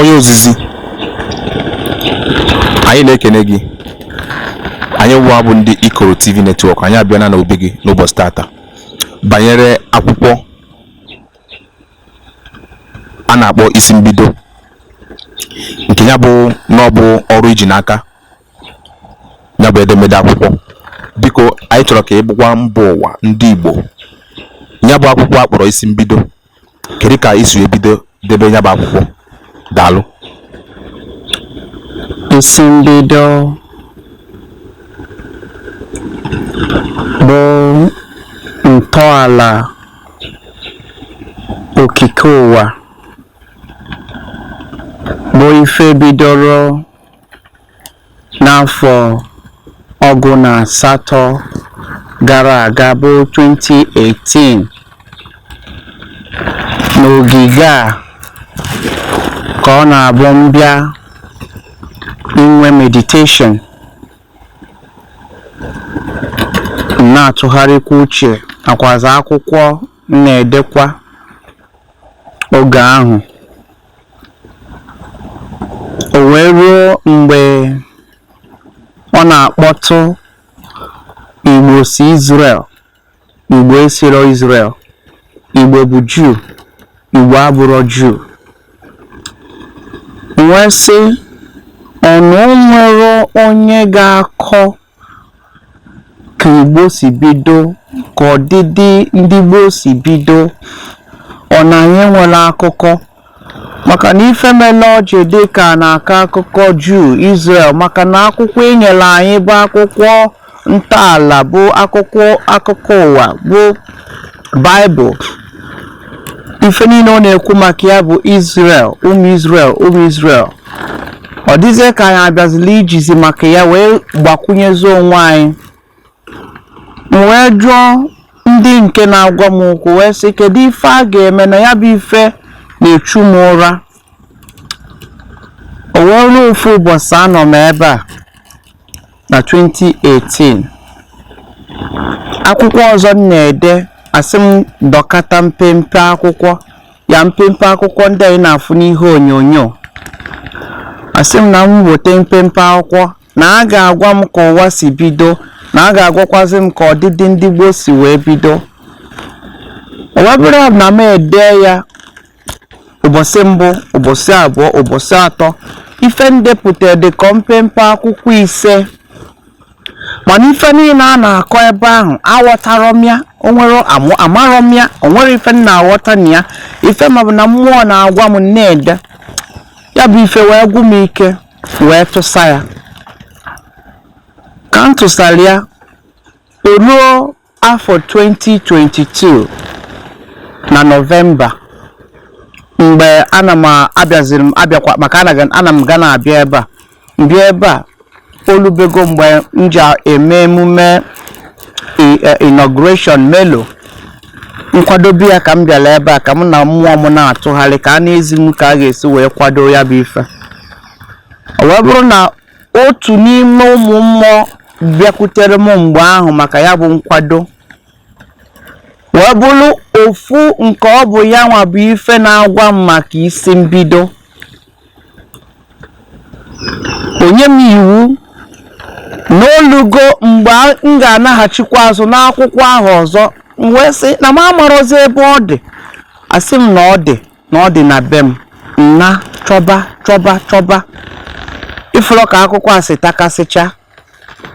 onye ozizi anyị na-ekene gị anyị nwa bụ ndị ikoro tv netwọk anyị abịana n'obi gị n'ụbọsị tata banyere akwụkwọ a na-akpọ isi mbido nke ya bụ na ọ bụ ọrụ i ji n'aka ya bụ edemede akwụkwọ biko anyị chọrọ ka ị gwakwa mba ụwa ndị Igbo ya bụ akwụkwọ a kpọrọ isi mbido kedu ka i si wee bido debe ya bụ akwụkwọ daalụ isi mbido bụ ntọala okike ụwa bụ ife bidoro N'afọ ọgụ na asatọ gara aga bụ 2018, n'ogige a ka ọ na-abụ m bịa inwe meditation m na-atụgharịkwa uche nakwazi akwụkwọ m na-edekwa oge ahụ o wee ruo mgbe ọ na-akpọtụ igbo si Izrel igbo esiro Izrel igbo bụ juu igbo abụrọ juu m wee sị ọ na o nwerọ onye ga-akọ ka Igbo si bido ka ọdịdị ndị Igbo si bido ọ na anyị enwerọ akụkọ maka na ife mele o ji dị ka a na-akọ akụkọ Juu Izrel maka na akwụkwọ e nyere anyị bụ akwụkwọ ntọala bụ akwụkwọ akụkọ ụwa bụ Baịbụl ife niile ọ na-ekwu maka ya bụ Israel ụmụ Israel ụmụ Israel ọ dịzie ka anyị abịazila ijizi maka ya wee gbakwunyezie onwe anyị m wee jụọ ndị nke na-agwa m okwu wee sị kedu ife a ga-eme na ya bụ ife na-echu m ụra o wee ruo ofu ụbọsị anọ m ebe a na 2018 akwụkwọ ọzọ m na-ede a sị m dọkata mpempe akwụkwọ ya mpempe akwụkwọ ndị anyị na-afụ n'ihe onyonyo a sị m na m weta mpempe akwụkwọ na a ga-agwa m ka ụwa si bido na a ga-agwakwazị m ka ọdịdị ndị gboo si wee bido o wee bụrụ na m ede ya ụbọsị mbụ ụbọsị abụọ ụbọsị atọ ife m depụta dịka mpempe akwụkwọ ise mana ife niile a na-akọ ebe ahụ aghọtarọ m ya o nwe amarọ m ya o nwerọ ife m na-aghọta na ya ife m ma bụ na mmụọ na-agwa m m na-ede ya bụ ife wee gwụ m ike wee tụsa ya ka m tụsara ya o ruo Afọ 2022 na Nọvemba mgbe ana m abịaziri m abịakwa maka ana m ga na-abịa ebe a m bịa ebe a o lubego mgbe m ji eme emume e, inauguration melo nkwadobe ya ka m bịara ebe a ka m na mmụọ m na-atụgharị ka a na-ezi m ka a ga-esi wee kwado ya bụ ife o wee bụrụ na Otu n'ime ụmụ mmụọ bịakwutere m mgbe ahụ maka ya bụ nkwado wee bụrụ ofu nke ọ bụ ya nwa bụ ife na-agwa m maka isi mbido o nye m iwu na o lugo mgbe m ga-anaghachikwa azụ n'akwụkwọ ahụ ọzọ m wee sị na m amarọzi ebe ọ dị a sị m na ọ dị na ọ dị na be m m naa chọba chọba chọba ị fụrọ ka akwụkwọ a si takasịcha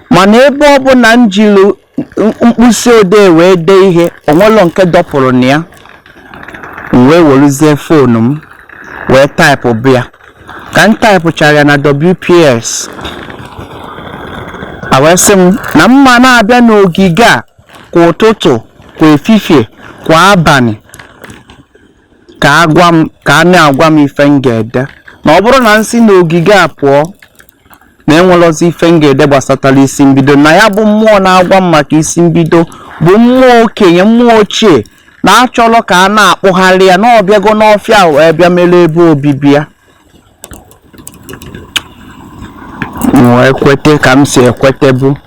mana ebe ọ bụla m jiri mkpịsị odee wee dee ihe o nwelọ nke dọpụrụ na ya m wee weruzie foonu m wee taịpụbe ya ka m taịpụchara ya na WPS a wee sị m na m ga na-abịa n'ogige a kwa ụtụtụ kwa efifie kwa abanị ka a gwa m ka a na-agwa m ife m ga-ede na ọ bụrụ na m si n'ogige a pụọ na enwelọzi ife m ga-ede gbasatara isi mbido na ya bụ mmụọ na-agwa m maka isi mbido bụ mmụọ okenye mmụọ ochie na achọrọ ka a na-akpụgharị ya na ọ bịago n'ọfịa a wee bịa mere ebe obibi ya wee kwete ka m si ekwetebu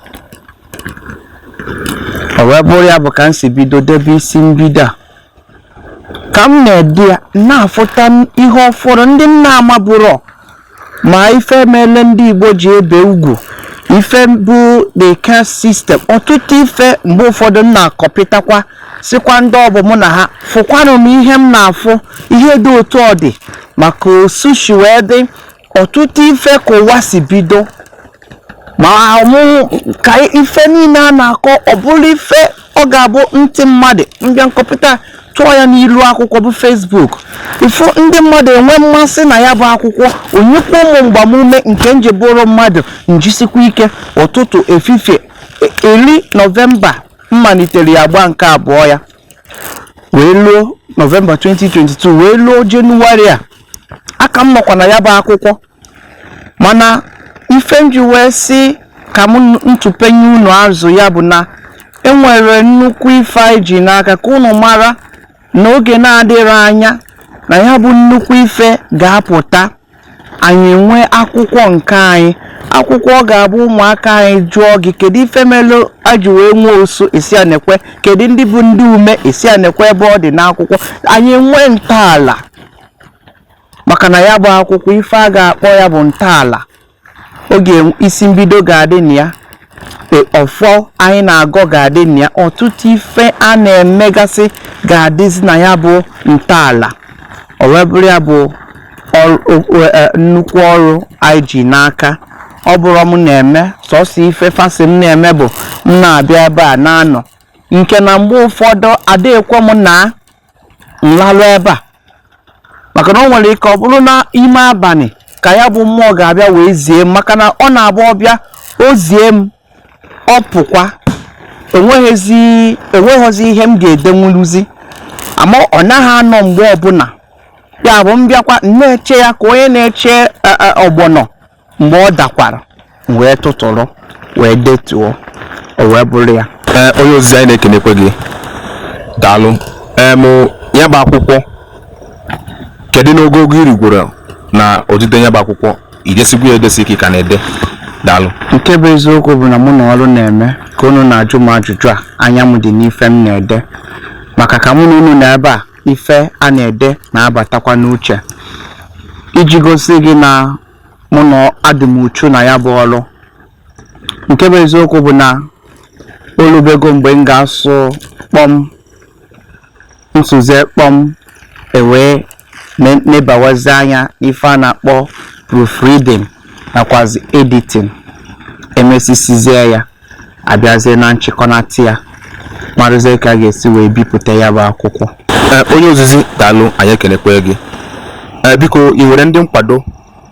o wee bụrụ ya bụ ka m si bido debe isi mbido a ka m na-ede ya m na-afụta ihe ọfụrụ ndị m na-amaburọ ma ife mele ndị Igbo ji ebe ugwu ife bụ the caste system ọtụtụ ife mgbe ụfọdụ m na-akọpụtakwa sịkwa ndị ọ bụ mụ na ha fụkwanụ m ihe m na-afụ ihe dị otu ọ dị maka osu shi wee dị ọtụtụ ife ka ụwa si bido ma ọmụmụ ka ife niine a na-akọ ọ bụrụ ife ọ ga-abụ ntị mmadụ m bịa na kọmputa tụọ ya n'ilu akwụkwọ bụ Facebook ifo ndị mmadụ enwee mmasị na ya bụ akwụkwọ o nyekwuo mụ mgbamume nke m ji bụrụ mmadụ m jisikwa ike ụtụtụ efifie eri e, nọvemba m malitere ya gba nke abụọ ya wee luo nọvemba 2022 wee luo jenụwarị a a ka m nọkwa na ya bụ akwụkwọ mana ife m ji wee sị ka m tụpenye unu azụ ya bụ na e nwere nnukwu ife anyị ji n'aka ka unu mara na oge na-adịghị anya na ya bụ nnukwu ife ga-apụta anyị enwee akwụkwọ nke anyị akwụkwọ ọ ga-abụ ụmụaka anyị jụọ gị kedu ife melụ e ji wee nwee osu ị sị ya nekwe kedu ndị bụ ndị ume ị sị ya nekwe ebe ọ dị n'akwụkwọ anyị nwee ntọala maka na ya bụ akwụkwọ ife a ga-akpọ ya bụ ntọala oge isi mbido ga-adị na ya ọfọ anyị na-agọ ga-adị na ya ọtụtụ ife a na-emegasị ga-adịzi na ya bụ ntọala o wee bụrụ ya bụ e, nnukwu ọrụ anyị ji n'aka ọ bụrụ m na-eme sọsọ ife fa sị m na-eme bụ m na-abịa ebe a na-anọ nke na mgbe ụfọdụ adịghịkwa m na m larụ ebe a maka na ọ nwere ike ọ bụrụ na ime abanị ka ya bụ mmụọ ga-abịa wee zie m maka na ọ na-abụ ọ bịa o zie m ọ pụkwa enweghịzi enweghịzi ihe m ga-edenwuluzi ama ọ naghị anọ mgbe ọbụna ya bụ m bịakwa na-eche ya ka onye na-eche ọgbọnọ mgbe ọ dakwara m wee tụtụrụ wee detuo o wee bụrụ ya ee onye ozizi anyị na-ekenekwe gị daalụ em ya bụ akwụkwọ kedu n'ogogo i rigworo na odide ya bụ akwụkwọ i desigwo ya edesi ka ị ka na-ede daalụ nke bụ eziokwu bụ na mụ na ọrụ na-eme ka unu na-ajụ m ajụjụ a anya m dị n'ife m na-ede maka ka mụ na unu nọ ebe a ife a na-ede na-abatakwa n'uche iji gosi gị na mụ nwa adị m uchu na ya bụ ọrụ nke bụ eziokwu bụ na o lubego mgbe m ga-asụ kpọm m sụzie kpọm e wee nebawazi anya n'ife a na-akpọ proofreading nakwazi editing e mesisizie ya a bịazie na nchịkọnata ya marazie ka a ga-esi wee bipụta ya bụ akwụkwọ eh, onye ozizi daalụ anyị ekenekwee gị eh, biko i nwere ndị nkwado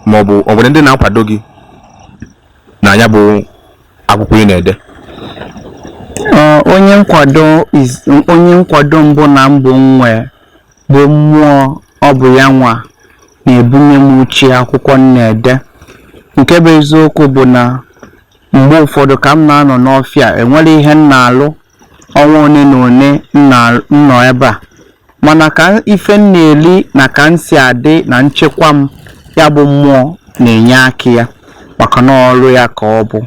ma ọ bụ o nwere ndị na-akwado gị na ya bụ akwụkwọ ị na-ede eh, onye nkwado onye nkwado mbụ na mbụ m nwe bụ mmụọ ọ bụ ya nwa na-ebunye m uche akwụkwọ m na-ede nke bụ eziokwu bụ na Mgbe ụfọdụ ka m na-anọ n'ọfịa a, enwere ihe m na-alụ ọnwa one na one m nọ ebe a. Mana ife m na-eri na ka m si adị na nchekwa m, ya bụ mmụọ na-enye aka ya maka na ọrụ ya ka ọ bụ.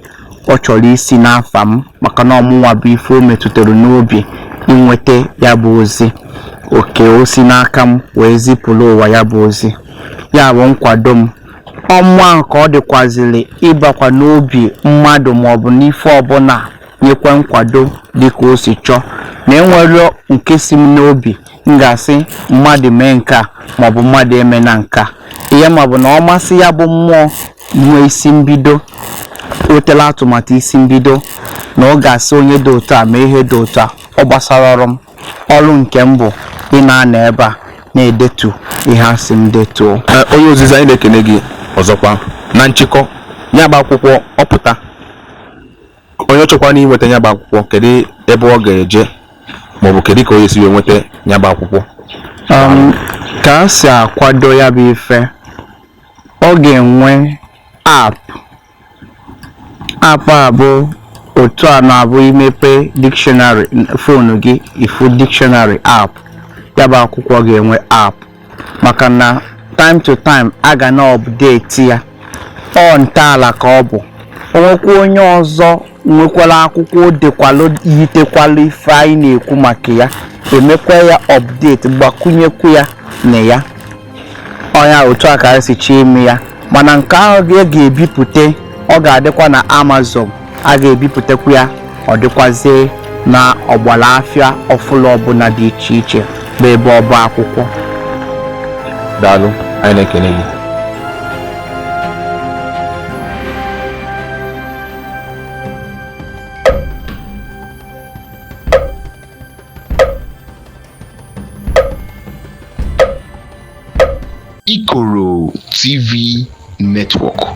Ọ chọrọ isi n'afa m maka na ọ mụnwa bụ ife o metụtara n'obi inweta ya bụ ozi. Ọ ka o si n'aka m wee zipụrụ ụwa ya bụ ozi. Ya bụ nkwado m. Ọ mmụọ ahụ ka ọ dịkwazịrị ịbakwa n'obi mmadụ maọbụ n'ife ọbụla nyekwa nkwado dịka o si chọọ na enwere nke si m n'obi m ga-asị mmadụ mee nke a maọbụ mmadụ emena nke a ihe m ma bụ na ọ masị ya bụ mmụọ nwee isi mbido wetala atụmatụ isi mbido na ọ ga-asị onye dị otu a mee ihe dị otu a ọ gbasara ọrụ m ọrụ nke m bụ ịna-anọ ebe a na-edetu ihe a sị m detuo onye ozizi anyị na-ekene gị ọzọkwa na nchịkọ ya bụ akwụkwọ ọ pụta onye chọkwanụ inweta ya bụ akwụkwọ kedu ebe ọ ga-eje maọbụ kedu ka onye si wee nweta ya bụ akwụkwọ um, ka a si akwado ya bụ ife ọ ga-enwe app App a bụ otu ọ na-abụ i mepe di fonu gị ị fụ dictionary app ya bụ akwụkwọ ga-enwe app maka na time to time a ga na-update ya ọ ntọala ka ọ bụ o nwekwa onye ọzọ nwekwara akwụkwọ o dekwalụ yitekwalụ ife anyị na-ekwu maka ya e mekwa ya update gbakwunyekwu ya na ya ọ nya otu a ka anyị si chọọ ime ya mana nke ahụ a ga-ebipụta ọ ga-adịkwa na Amazon a ga-ebipụtakwu ya ọ dịkwazie na ọgbara afịa ọbụla ọbụla dị iche iche bụ ebe ọba akwụkwọ daalụ anyị na-ekele gị Ikoro TV Network.